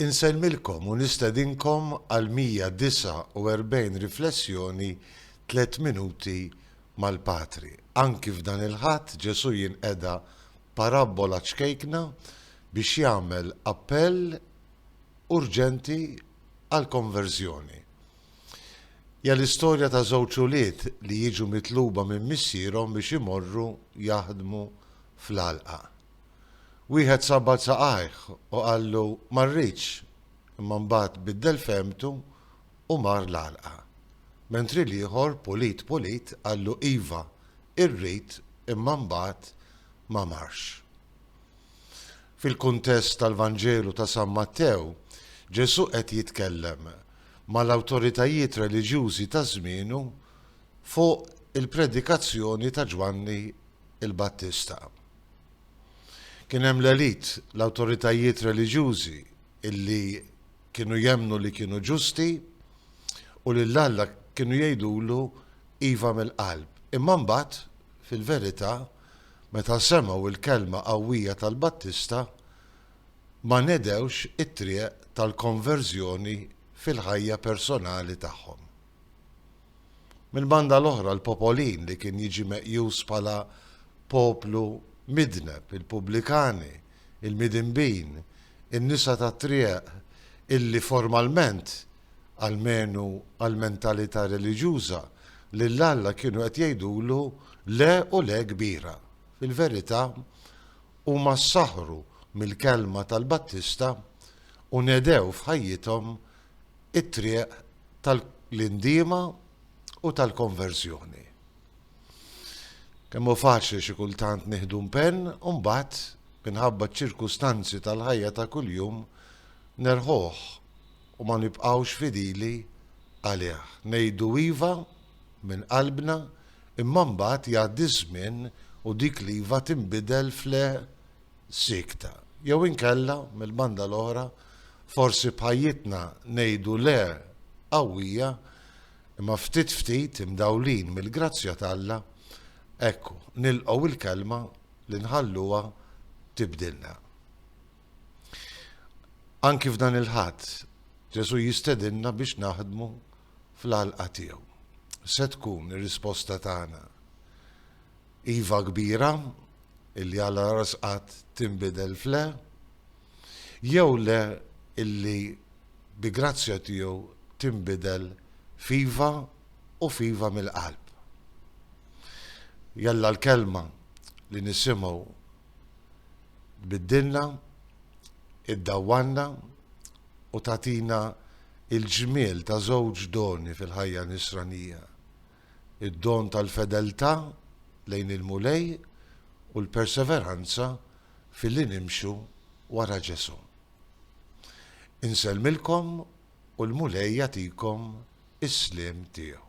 Insellmilkom u nistedinkom għal 149 riflessjoni Tliet Minuti mal-Patri. Anki f'dan il-Ħadd Ġesù jinqeda parabbola ċkejkna biex jagħmel appell urġenti għall-konverżjoni. Hija l-istorja ta' żewġ ulied li jiġu mitluba minn missierhom biex imorru jaħdmu fl-għalqa. Wieħed sabbad saqajh u qallu, Ma rridx, imma mbagħad biddel fehmtu u mar l-għalqa. Mentri l-ieħor, pulit pulit, qallu, Iva, irrid, imma mbagħad ma marx. Fil-kuntest tal-Vanġelu ta' San Mattew, Ġesù qed jitkellem mal-awtoritajiet reliġjużi ta' żmienu fuq il-predikazzjoni ta' Ġwanni l-Battista. Kien hemm l-elite, l-awtoritajiet reliġjużi illi kienu jemmnu li kienu ġusti u lil Alla kienu jgħidulu iva mill-qalb. Imma mbagħad, fil-verità, meta semgħu l-kelma qawwija tal-Battista, ma nedewx it-triq tal-konverżjoni fil-ħajja personali tagħhom. Mill-banda l-oħra, l-popolin li kien jiġi meqjus bħala poplu midneb, il-pubblikani, il-midinbin, in-nisa tat-trieq illi formalment, almenu għall-mentalità reliġjuża, lil Alla kienu qed jgħidulu le u le kbira, fil-verità huma ssaħħru mill-kelma tal-Battista u nedew f'ħajjithom it-triq tal-indiema u tal-konverżjoni. Kemm hu faċli xi kultant nieħdu mpenn u mbagħad, minħabba ċ-ċirkustanzi tal-ħajja ta' kuljum, nerħuh u ma nibqgħux fidili għalih. Ngħidu iva minn qalbna, imma mbagħad jgħaddi ż-żmien u dik l-iva tinbidel f'le siekta. Jew inkella, mill-banda l-oħra, forsi b'ħajjitna ngħidu le qawwija, imma ftit ftit, imdawlin mill-grazzja t'Alla, ekku, nilqgħu l-kelma li nħalluha tibdilna. Anki f'dan il-Ħadd, Ġesù jistedinna biex naħdmu fl-għalqa tiegħu. Se tkun ir-risposta tagħna. iva kbira illi għala rasqat tinbidel f'le, jew le illi bi grazzja tiegħu tinbidel f'iva u f'iva mill-qalb. Jalla l-kelma li nisimgħu tbiddilna, iddawwanna u tagħtina il-ġmiel ta' żewġ doni fil-ħajja nisranija. id-don tal-fedeltà lejn il-Mulej u l-perseveranza filli nimxu wara Ġesù. Insellmilkom u l-Mulej jagħtikom is-sliem tiegħu.